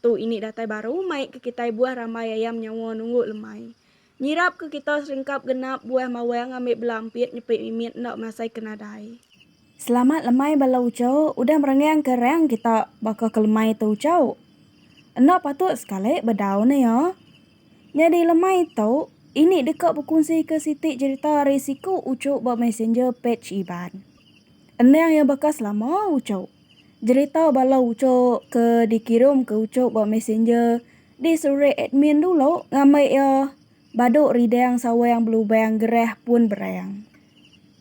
Tu ini datai baru mai ke kitai buah rambai ayam nyawa nunggu lemai. Nyirap ke kita seringkap genap buah mawang ngambi bela empit nyepi mimit enda masai ke nadai. Selamat lemai bala uchau udah merenggang ke rang kita baka ke lemai tu uchau. Enda patut sekali bedau ne ya. Nyadi lemai tu ini deka bekunsi ke siti jerita ari siku uchu ba messenger page Iban. Endang ya baka selama uchau. Jerita bala uchup ke dikirum ke uchup ba messenger diserurik admin dulu ngambi iya badu ridang sawang belubang gerah pun berang.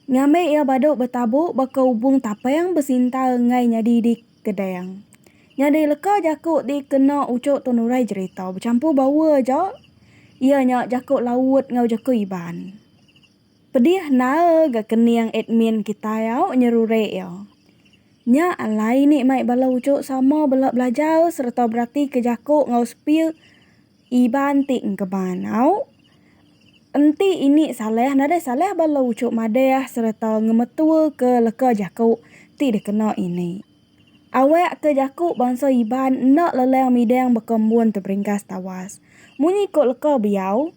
Ngambi iya badu betabu baka ubung tapang besinta enggai nyadi di kedang. Nyadi leka jaku ti kena uchup tu nurai jerita bechampur baur aja iya nya jaku laut enggau jaku iban. Pedih naal ga kening admin kitai au nyerurik iya. Nya alai ni mai bala ujuk sama bela belajar sereta beratika jaku enggau speal Iban ti engkeman au. Enti ini salah nadai salah bala ujuk madah sereta ngemetuaka leka jaku ti dikena ini. Awak ke jaku bansa Iban enda lelang midang baka embun teberingkas tawas. Munyi ko leka biau.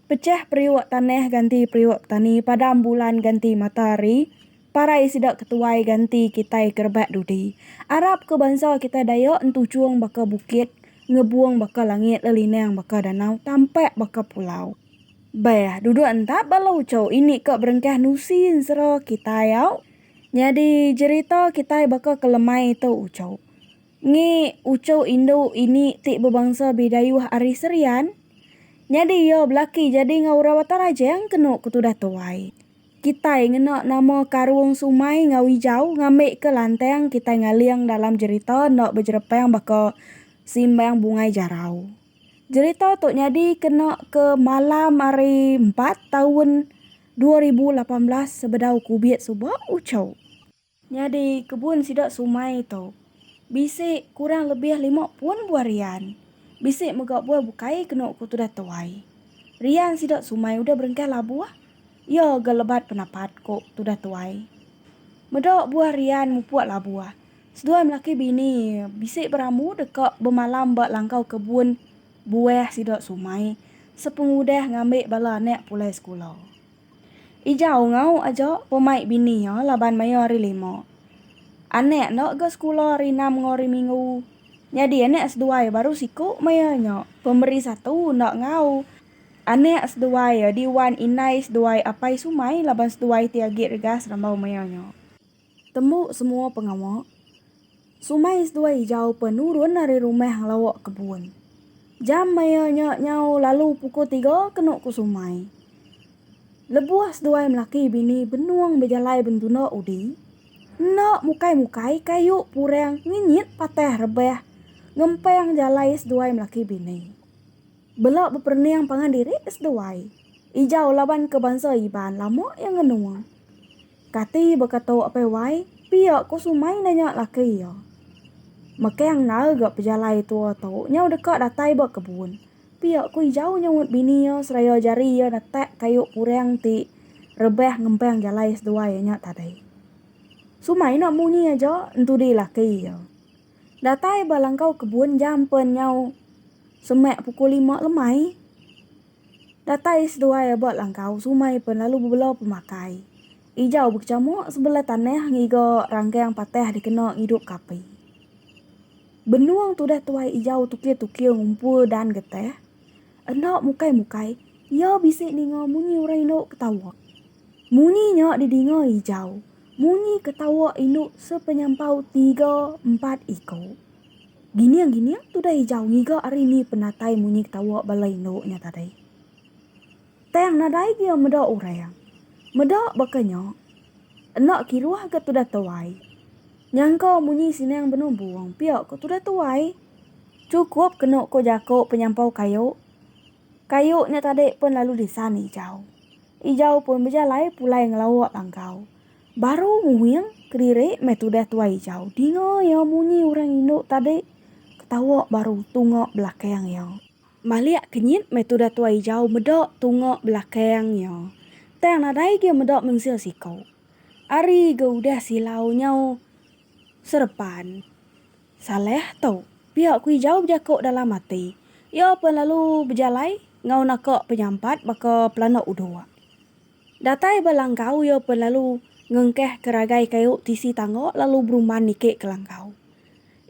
Pechah periuk tanah ganti periuk petani padam bulan ganti matahari parai sida ke tuai ganti kitai ke rebak dudi. Arap ke bansa kitai Dayak entuchung baka bukit, ngebung baka langit lelinang baka danau tampak baka pulau. Beh, duduk entap ba Lauco ini ka berengkah nusi ensera kitai au. Nyadi jerita kitai baka ke lemai tu uchu. Ngi uchu indu ini ti bebangsa Bidayuh ari Serian, nyadi iya belaki jadi enggau orang Batang Rajang kenu ke tudah tuai. Kitai ngena nama Karung Sumai enggau Ijau ngambika lantang kitai ngaling dalam jerita enda bejerepang baka Simbang Bungai Jarau. Jerita tu nyadi kena ke malam Hari Empat taun dua ribu lapan belas sebedau kubit suba uchu. Nyadi kebun sida sumai tu bisi kurang lebih lima pun buah rian. Bisi mega buah bukai kenu ku tudah tuai. Rian sida sumai udah berengkah labuh iya ga lebat penapat ku tudah tuai. Meda buah rian mupuk labuh, seduai melaki bini bisi berambu deka bemalam ba langkau kebun buah sida sumai sepengudah ngambi bala anak pulai sekula. Ijau enggau aja pun mai bini iya laban maya hari lima. Anak enda ga sekula hari enam enggau hari minggu. Nyadi anak seduai baru siku maya nya. Pemeri satu enda enggau. Anak seduai adi wan indai seduai apai sumai laban seduai ti agi regas rambau maya nya. Tembu semua pengawa. Sumai seduai ijau pe nurun ari rumah ngelawa kebun. Jam maya nya nyau lalu pukul tiga kenu ku Sumai. Lebuh seduai melaki bini benung bejalai bentunda udi, enda mukai-mukai kayu purang ngenyit patah rebah ngempang jalai seduai melaki bini. Bela beperening pangan diri seduai. Ijau laban ke bansa Iban lama iya ngenung. Kati baka tu apai wai, pia ko sumai enda nya laki iya. Mekang enggau ga pejalai tua tu nyau deka datai ba kebun. Pia ko Ijau nyaunt bini iya seraya jari iya netak kayu purang ti rebah ngempang jalai seduai iya nya tadi. Sumai enda munyi aja entudi laki iya. Datai ba langkau kebun jam pen nyau semak pukul lima lemai. Datai seduai aba langkau sumai pen lalu bebela pemakai. Ijau bekecamuk sebela tanah ngiga ranggang patah dikena ngidupka api. Benung tudah tuai ijau tukir-tukir ngumpul dan getah. Enda mukai-mukai, iya bisi ninga munyi orang indu ketawa. Munyi nya didinga ijau. Munyi ketawa indu sepenyampau tiga empat iku. Gining gining tudah ijau ngiga ari ni penatai munyi ketawa bala indu nya tadi. Tang nadai gia meda orang. Meda baka nya, enda kiruh ga tudah tuai. Nyangka munyi sining benumbung pia ko tudah tuai. Chukup kenu ko jaku penyampau kayu. Kayu nya tadi pun lalu disan ijau. Ijau pun bejalai pulai ngelawa langkau. Baru nguing kedirik meh tudah tuai ijau dinga iya munyi urang indu tadi ketawa baru tunga belakang iya. Malik kenyit meh tudah tuai ijau meda tunga belakang iya. Tang nadai gia meda mensia siko. Ari ga udah silau nyau serepan. Salah tu. Pia ku ijau bejako dalam ati. Iya pen lalu bejalai enggau naka penyampat baka pelana udok. Datai ba langkau iya pen lalu ngengkeh ke ragai kayu tisi tangga lalu berumban niki ke langkau.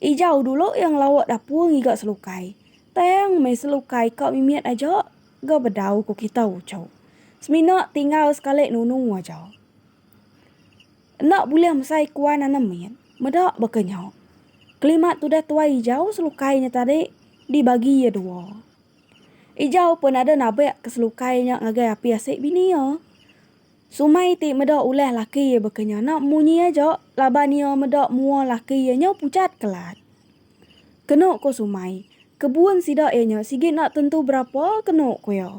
Ijau dulu iya ngelawa dapur ngiga selukai, tang meh selukai ka mimit aja ga bedau ku kita uchu. Semina tinggal sekali nunu aja. Enda bulih mesai kuan anem mit, meda baka nya. Kelimat tudah tuai ijau selukai nya tadi dibagi iya dua. Ijau pun ada nabek ke selukai nya ngagai api asik bini iya. Sumai ti meda ulah laki iya baka nya enda munyi aja laban iya meda mua laki iya nyau pucat kelat. Kenu ku Sumai, kebun sida iya nya sigi enda tentu berapa kenu ku iya.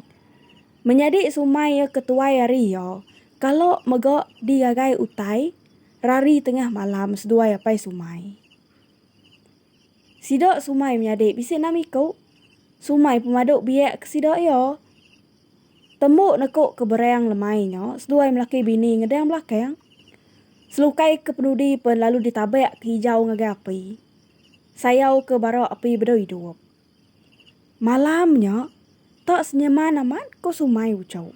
Menyadi Sumai iya ke tuai ari iya, kala mega digagai utai rari tengah malam seduai Apai Sumai. Sida sumai menyadi bisi enam iku sumai pemadu biak ke sida iya. Tembu neku ke berang lemai nya seduai melaki bini ngedang belakang. Selukai ke penudi pen lalu ditabak ke hijau ngagai api. Sayau ke bara api bedau idup. Malam nya tak senyeman amat ku sumai uchu.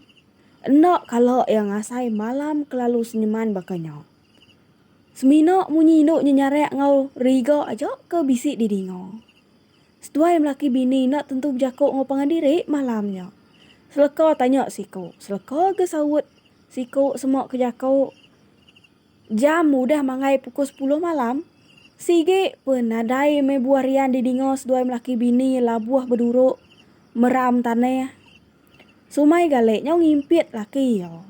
Enda kala iya ngasai malam ke lalu senyeman baka nya. Semina munyi indu nyenyarak enggau riga aja ke bisi didinga. Seduai melaki bini enda tentu bejaku enggau pangan diri malam nya. Seleka tanya siku, seleka ga saut siku sema ke jaku jam udah manggai pukul sepuluh malam, sigi pun nadai meh buah rian didinga seduai melaki bini labuh beduruk meram tanah. Sumai gale nyau ngimpit laki iya.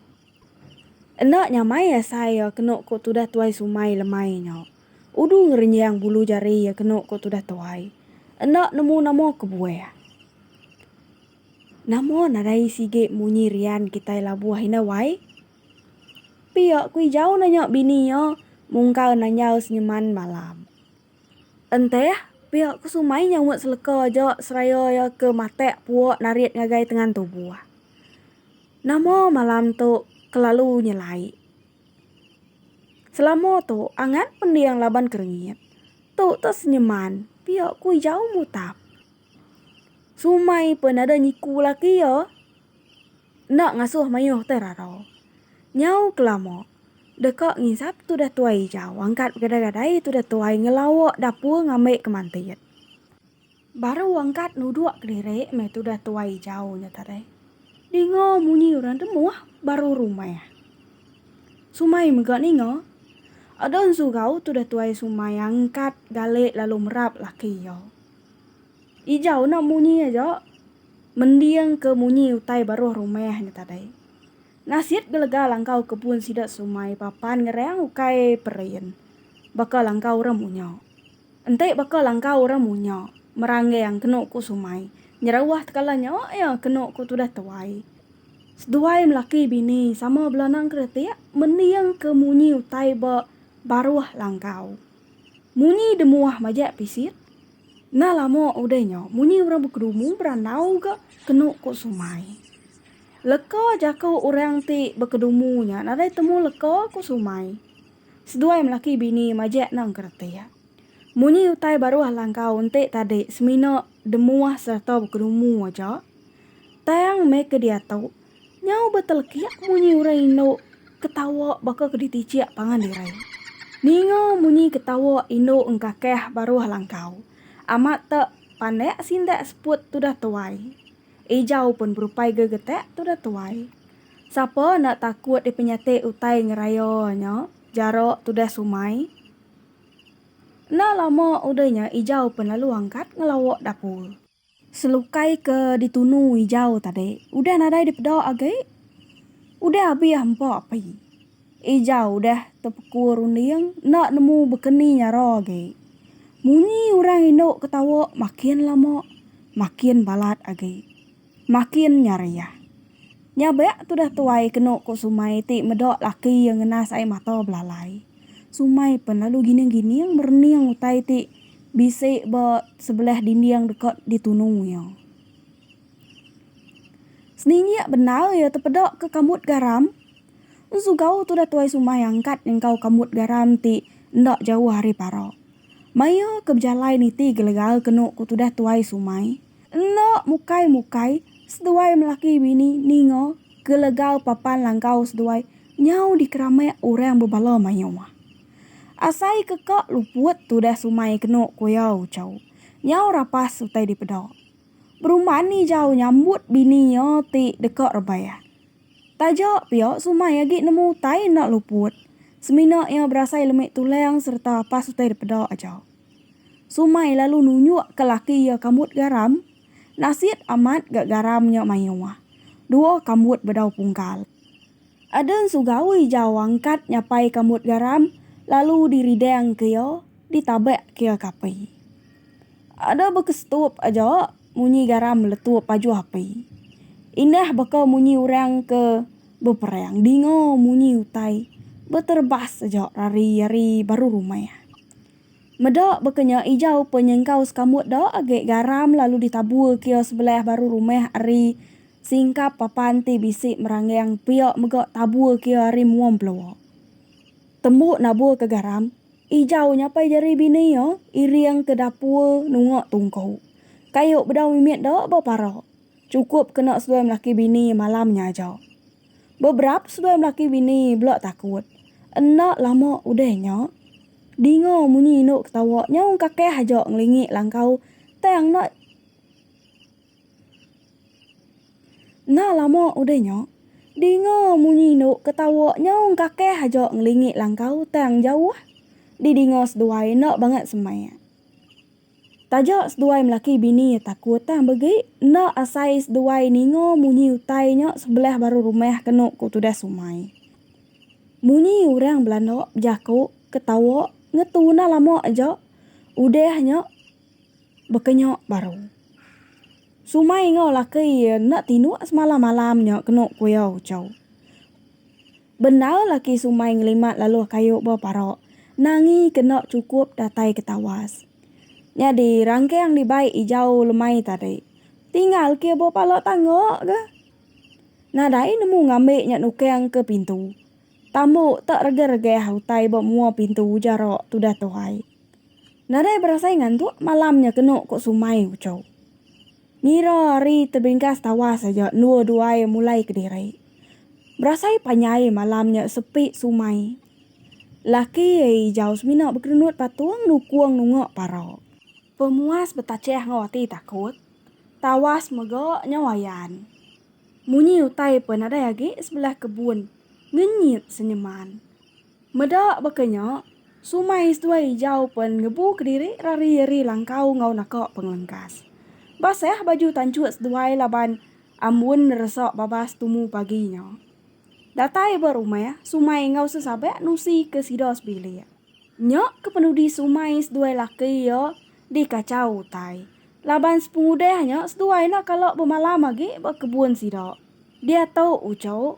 Enda nyamai iya asai iya kenu ku tudah tuai sumai lemai nya. Udu ngerenjang bulu jari iya kenu ku tudah tuai. Enda nemu nama kebuah. Nama nadai sigi munyi rian kitai labuh indai wai. Pia ku ijau nanya bini iya mungkal nanjau senyeman malam. Enteh, pia ku sumai nya umut seleka aja seraya iya ke matak puak narit ngagai tengan tubuh. Nama malam tu kelalu nyelai. Selama tu angat pending laban kerengit. Tu teh senyeman pia ku ijau mutap. Sumai pun ada nyiku laki iya. Enda ngasuh mayuh te rara. Nyau kelama deka nginsap tudah tuai ijau angkat begadai-gadai tudah tuai ngelawa dapur ngambi kemantit. Baru angkat nuduk kediri meh tudah tuai jau nya tadi. Ninga munyi orang temuh baru rumah. Sumai mega ninga. Ada ensugau tudah tuai sumai angkat galik lalu merap laki iya. Ijau enda munyi aja mending ke munyi utai baruh rumah nya tadi. Nasit gelega langkau kebun sida sumai papan ngerang ukai perin. Baka langkau orang munya. Enti baka langkau orang munya. Meranggang kenu ku Sumai. Nyerauh tekala nya iya kenu ku tudah tuai. Seduai melaki bini sama bela nang keretik mending ke munyi utai ba baruh langkau. Munyi demuah majak pisit. Enda lama udah nya munyi orang bekedumu berandau ga kenu ku Sumai. Leka jaku orang ti bekedumu nya nadai temu leka ku Sumai. Seduai melaki bini majak nang ke reti. Munyi utai baruh Alangkau enti tadi semina demuah sereta bekedumu aja. Tang meh ke diatu, nyau betelekik munyi orang indu ketawa baka ke ditijik pangan diri. Ninga munyi ketawa indu engkakah baruh Alangkau. Amat tek pandak sindak seput tudah tuai. Ejau pun berupai ga getak tu dah tuai. Sapa enda takut dipenyatik utai ngeraya nya jarak tu dah sumai. Enda lama udah nya Ejau pun lalu angkat ngelawa dapur. Selukai ke ditunu Ejau tadi udah nadai dipeda agi. Udah abih hampa api. Ija udah tepekur runding enda nemu bekeni nyara agi. Munyi orang indu ketawa makin lama makin balat agi. Makin nyariah. Nya bea tudah tuai kenu ku Sumai ti meda laki iya ngenas ai mata belalai. Sumai pen lalu gining-gining merening utai ti bisi ba sebelah dinding deka ditunu iya. Seninjik bendar iya tepeda ke kambut garam. Ensugau tudah tuai sumai angkat nyengkau kambut garam ti enda jauh ari para. Mai iya ke bejalai niti gelegar kenu ku tudah tuai sumai. Enda mukai-mukai, seduai melaki bini ninga gelegar papan langkau seduai nyau dikeramek orang bebala mayuh. Asai ke ka luput tudah sumai kenu ku iya Uchau. Nyau rapas utai dipeda. Berumban ni jauh nyambut bini iya ti deka rebah. Taja pia Sumai agi nemu utai enda luput semina iya berasai lemi tulang sereta apas utai dipeda aja. Sumai lalu nunjuk ke laki iya kambut garam, nasit amat ga garam nya mayuh. Dua kambut bedau pungkal. Ada ensu gawi jauh angkat nyapai ka mut garam lalu di ridang ke ia di tabak ke ia ka api. Ada baka setup aja munyi garam meletup ajuh api. Indah baka munyi urang ke beperang dinga munyi utai beterbas aja rari ari baru rumah. Meda baka nya ijau pe nyengkau sekambut da agi garam lalu ditabur kio sebelah baru rumah ari singkap papan ti bisi meranggang pia mega tabur kio ari mua mpeluwa. Tembu nabur ke garam, ijau nyapai jari bini iya iring ke dapur nunga tungku. Kayu bedau mimit da bepara. Cukup kena seduai melaki bini malam nya aja. Beberap seduai melaki bini bela takut. Enda lama udah nya, dinga munyi indu ketawa nyaung kakeh aja ngelingi langkau tang enda Enda lama udah nya, dinga munyi indu ketawa nyaung kakeh aja ngelingi langkau tang jauh didinga seduai enda bangat semai. Taja seduai melaki bini iya takut tang begi enda asai seduai ninga munyi utai nya sebelah baru rumah kenu ku tudah Sumai. Munyi orang belanda bejaku ketawa ngetuna lama aja udah nya bekenya baru. Sumai enggau laki iya enda tinduk semalam-malam nya kenu ku iya uchu. Bendar laki Sumai ngelimat laluh kayu ba parok Nangi kena chukup datai ke tawas. Nyadi rangkang dibai ijau lemai tadi. Tinggal kia ba pala tangga ga. Nadai nemu ngambi nya nukang ke pintu. Tambu tak regah-regah utai ba mua pintu ujar rak tudah tuhai. Nadai berasai ngantuk malam nya kenu ko Sumai uchu. Ngira ari tebingkas tawas aja endua duai mulai kediri. Berasai panjai malam nya sepi sumai. Laki ai Ijau semina bekerendut patung nukung nunga parau. Pemuas betachah enggau ati takut, tawas mega nyau ayan. Munyi utai pe nadai agi sebelah kebun ngenyit senyeman. Meda baka nya, sumai seduai ijau pen ngebu kediri rari-eri langkau enggau naka pengelengkas. Basah baju tanchut seduai laban ambun neresa babas tumu pagi nya. Datai ba rumah sumai enggau sesabak nusi ke sida sebilik. Nya ke penudi sumai seduai laki iya dikachau utai laban sepengudah nya seduai enda kala bemalam agi ba kebun sida diatu uchu.